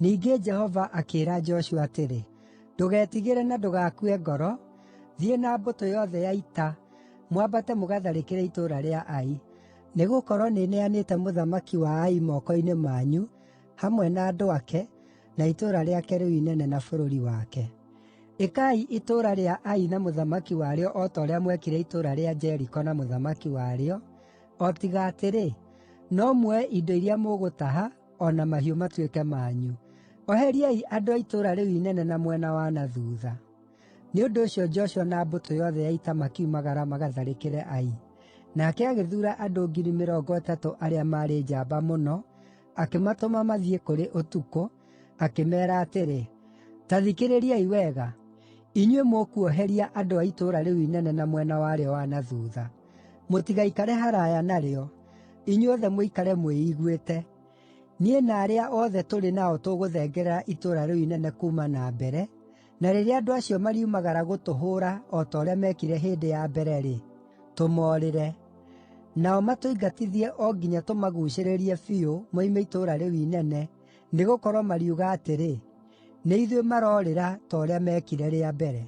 Ningĩ Jehova akĩĩra Joshua atĩrĩ, “Ndũgetigĩre na ndũgakue ngoro. Thiĩ na mbũtũ yothe ya ita, mwambate mũgatharĩkĩre itũũra rĩa Ai. Nĩgũkorwo nĩneanĩte mũthamaki wa Ai moko-inĩ manyu, hamwe na andũ ake, na itũũra rĩake rĩu inene na bũrũri wake. Ĩkai itũũra rĩa Ai na mũthamaki warĩo o ta ũrĩa mwekire itũũra rĩa Jeriko na mũthamaki warĩo, O tiga atĩrĩ, no muoe indo iria mũgũtaha, o na mahiũ matuĩke manyu. Oheriai andũ a itũũra rĩu inene na mwena wa na thuutha.” Nĩ ũndũ ũcio Joshua na mbũtũ yothe ya ita makiumagara magatharĩkĩre Ai. Nake agĩthuura andũ 30,000 arĩa maarĩ njamba mũno, akĩmatũma mathiĩ kũrĩ ũtukũ, akĩmeera atĩrĩ, “Ta thikĩrĩriai wega, inyuĩ mũkuoheria andũ a itũũra rĩu inene na mwena warĩo wa na thuutha.” Mũtigaikare haraaya narĩo; inyuothe mũikare mwĩiguĩte. Niĩ na arĩa othe tũrĩ nao tũgũthengerera itũũra rĩu inene kuuma na mbere, na rĩrĩa andũ acio mariumagara gũtũhũũra o ta ũrĩa meekire hĩndĩ ya mbere-rĩ, tũmoorĩre. Nao matũingatithie o nginya tũmaguucĩrĩrie biũ moime itũũra rĩu inene, nĩgũkorwo mariuga atĩrĩ, ‘Nĩ ithuĩ maroorĩra ta ũrĩa meekire rĩa mbere.’ ”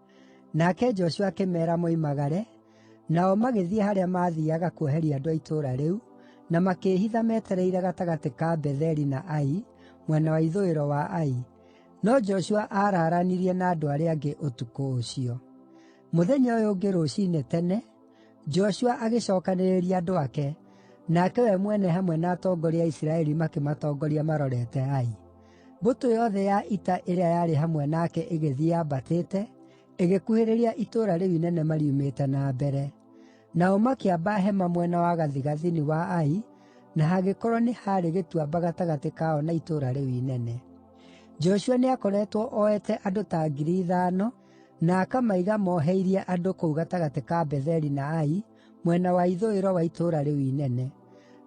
Nake Joshua akĩmeera moimagare, nao magĩthiĩ harĩa maathiiaga kuoheria andũ a itũũra rĩu, na makĩĩhitha metereire gatagatĩ ka Betheli na Ai, mwena wa ithũĩro wa Ai, no Joshua aaraaranirie na andũ arĩa angĩ ũtukũ ũcio. Mũthenya ũyũ ũngĩ rũciinĩ tene, Joshua agĩcookanĩrĩria andũ ake, nake we mwene hamwe na atongoria a Isiraeli makĩmatongoria marorete Ai. Mbũtũ yothe ya ita ĩrĩa yarĩ hamwe nake ĩgĩthiĩ yambatĩte, ĩgĩkuhĩrĩria itũũra rĩu inene mariumĩte na mbere. Nao makĩamba hema mwena wa gathigathini wa Ai, na hagĩkorwo nĩ haarĩ gĩtuamba gatagatĩ kao na itũũra rĩu inene. Joshua nĩakoretwo ooete andũ ta ngiri ithano, na akamaiga moheirie andũ kũu gatagatĩ ka Betheli na Ai, mwena wa ithũĩro wa itũũra rĩu inene.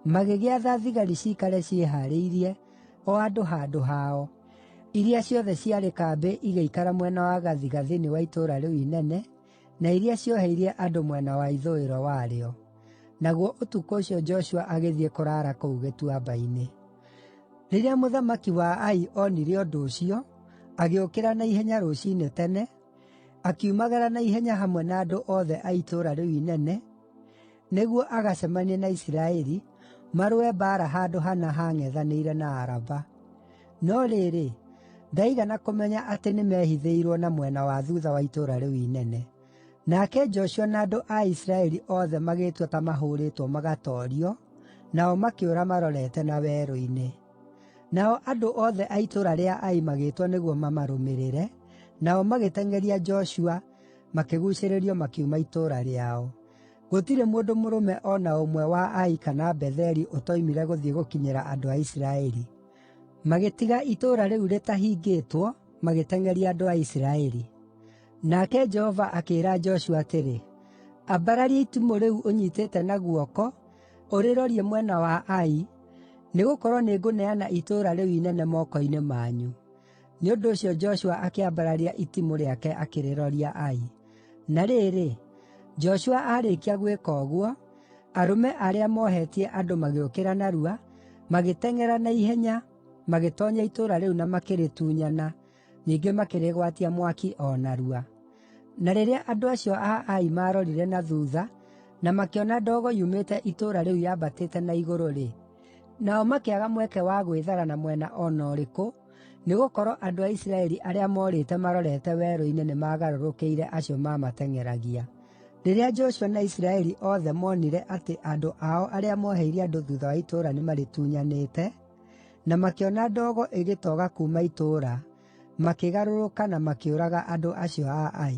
Magĩgĩatha thigari ciikare ciĩhaarĩirie, o andũ handũ hao, iria ciothe ciarĩ kambĩ igĩikara mwena wa gathigathini wa itũũra rĩu inene, na iria cioheirie andũ mwena wa ithũĩro warĩo. Naguo ũtukũ ũcio Joshua agĩthiĩ kũraara kũu gĩtuamba-inĩ. Rĩrĩa mũthamaki wa Ai onire ũndũ ũcio, agĩũkĩra na ihenya rũciinĩ tene, akiumagara na ihenya hamwe na andũ othe a itũũra rĩu inene, nĩguo agacemanie na Isiraeli, marũe mbaara handũ hana haang'ethanĩire na Araba. No rĩrĩ, ndaigana kũmenya atĩ nĩmehithĩirwo na mwena wa thuutha wa itũũra rĩu inene. Nake Joshua na andũ a Isiraeli othe magĩĩtua ta mahũũrĩtwo magatoorio, nao makĩũra marorete na werũ-inĩ. Nao andũ othe a itũũra rĩa Ai magĩĩtwo nĩguo mamarũmĩrĩre, nao magĩteng'eria Joshua, makĩguucĩrĩrio makiuma itũũra rĩao. “Gũtirĩ mũndũ mũrũme o na ũmwe wa Ai kana Betheli ũtoimire gũthiĩ gũkinyĩra andũ a Isiraeli. Magĩtiga itũũra rĩu rĩtahingĩtwo, magĩteng'eria andũ a Isiraeli. Nake Jehova akĩĩra Joshua atĩrĩ, ‘Ambararia itimũ rĩu ũnyiitĩte na guoko, ũrĩrorie mwena wa Ai, nĩgũkorwo nĩngũneana itũũra rĩu inene moko-inĩ manyu.’ Nĩ ũndũ ũcio Joshua akĩambararia itimũ rĩake akĩrĩroria Ai. Na rĩrĩ, Joshua aarĩkia gwĩka ũguo, arũme arĩa moohetie andũ magĩũkĩra narua, magĩteng'era na ihenya, magĩtoonya itũũra rĩu na makĩrĩtunyana, ningĩ makĩrĩgwatia mwaki o narua. Na rĩrĩa andũ acio a Ai maarorire na thuutha na makĩona ndogo yumĩte itũũra rĩu yambatĩte na igũrũ-rĩ, Nao makĩaga mweke wa gwĩthara na mwena o na ũrĩkũ, nĩgũkorwo andũ a Isiraeli arĩa morĩte marorete werũ-inĩ nĩmagarũrũkĩire acio maamateng'eragia. Rĩrĩa Joshua na Isiraeli othe moonire atĩ andũ ao arĩa mooheire andũ thuutha wa itũũra nĩmarĩtunyanĩte, na makĩona ndogo ĩgĩtoga kuuma itũũra, makĩgarũrũka na makĩũraga andũ acio a Ai.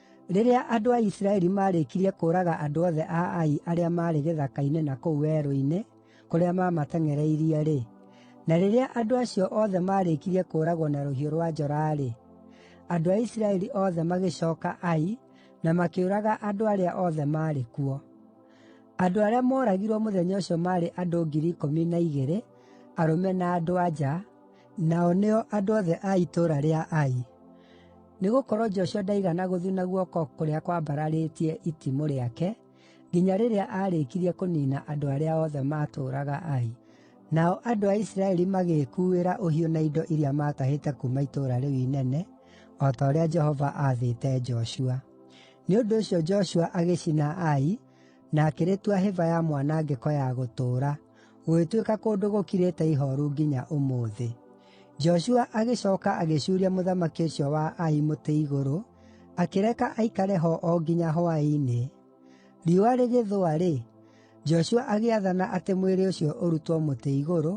Rĩrĩa andũ a Isiraeli maarĩkirie kũũraga andũ othe a Ai arĩa maarĩ gĩthaka-inĩ na kũu werũ-inĩ kũrĩa maamateng'ereirie-rĩ, na rĩrĩa andũ acio othe maarĩkirie kũũragwo na rũhiũ rwa njora-rĩ, andũ a Isiraeli othe magĩcooka Ai na makĩũraga andũ arĩa othe maarĩ kuo. Andũ arĩa mooragirwo mũthenya ũcio maarĩ andũ 12,000, arũme na andũ-a-nja, nao nĩo andũ othe a itũũra rĩa Ai. Nĩgũkorwo Joshua ndaigana gũthuna guoko kũrĩa kwambararĩtie itimũ rĩake nginya rĩrĩa aarĩkirie kũniina andũ arĩa othe maatũũraga Ai. Nao andũ a Isiraeli magĩĩkuuĩra ũhiũ na indo iria maatahĩte kuuma itũũra rĩu inene, o ta ũrĩa Jehova aathĩte Joshua. Nĩ ũndũ ũcio Joshua agĩcina Ai, na akĩrĩtua hĩba ya mwanangĩko ya gũtũũra, gũgĩtuĩka kũndũ gũkirĩte ihooru nginya ũmũthĩ. Joshua agĩcooka agĩcuuria mũthamaki ũcio wa Ai mũtĩ igũrũ, akĩreka aikare ho o nginya hwaĩ-inĩ. Riũa rĩgĩthũa-rĩ, Joshua agĩathana atĩ mwĩrĩ ũcio ũrutwo mũtĩ igũrũ,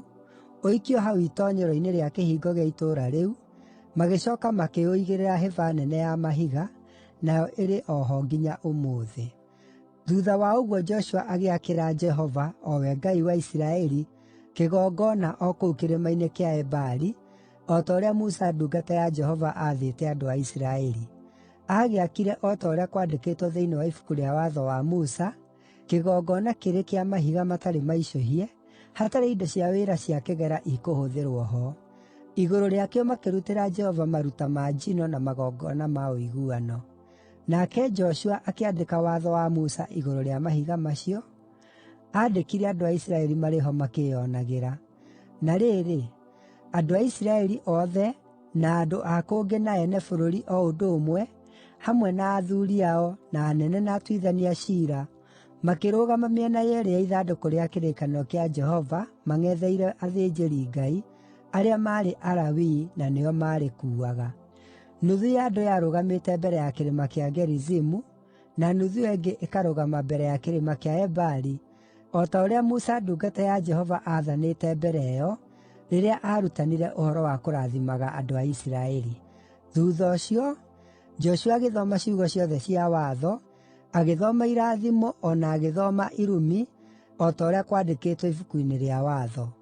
ũikio hau itoonyero-inĩ rĩa kĩhingo gĩa itũũra rĩu, magĩcooka makĩũigĩrĩra hĩba nene ya mahiga, nayo ĩrĩ o ho nginya ũmũthĩ. Thuutha wa ũguo Joshua agĩakĩra Jehova, o we Ngai wa Isiraeli, kĩgongona o kũu kĩrĩma-inĩ kĩa Ebali, o ta ũrĩa Musa ndungata ya Jehova aathĩte andũ a Isiraeli. Aagĩakire o ta ũrĩa kwandĩkĩtwo thĩinĩ wa Ibuku rĩa Watho wa Musa, kĩgongona kĩrĩ kĩa mahiga matarĩ maicũhie, hatarĩ indo cia wĩra cia kĩgera ikũhũthĩrwo ho. Igũrũ rĩakĩo makĩrutĩra Jehova maruta ma njino na magongona ma ũiguano. Nake Joshua akĩandĩka watho wa Musa igũrũ rĩa mahiga macio, aandĩkire andũ a Isiraeli marĩ ho makĩĩonagĩra. Na rĩrĩ, andũ a Isiraeli othe, na andũ a kũngĩ na ene bũrũri o ũndũ ũmwe, hamwe na athuuri ao, na anene na atuithania a ciira, makĩrũgama mĩena yeerĩ ya ithandũkũ rĩa kĩrĩkanĩro kĩa Jehova mang'etheire athĩnjĩri-Ngai, arĩa maarĩ Alawii, na nĩo maarĩkuuaga. Nuthu ya andũ yarũgamĩte mbere ya kĩrĩma kĩa Gerizimu, na nuthu ĩyo ĩngĩ ĩkarũgama mbere ya kĩrĩma kĩa Ebali, o ta ũrĩa Musa ndungata ya Jehova aathanĩte mbere ĩyo, rĩrĩa aarutanire ũhoro wa kũrathimaga andũ a Isiraeli. Thuutha ũcio, Joshua agĩthoma ciugo ciothe cia Watho, agĩthoma irathimo o na agĩthoma irumi, o ta ũrĩa kwandĩkĩtwo Ibuku-inĩ rĩa Watho.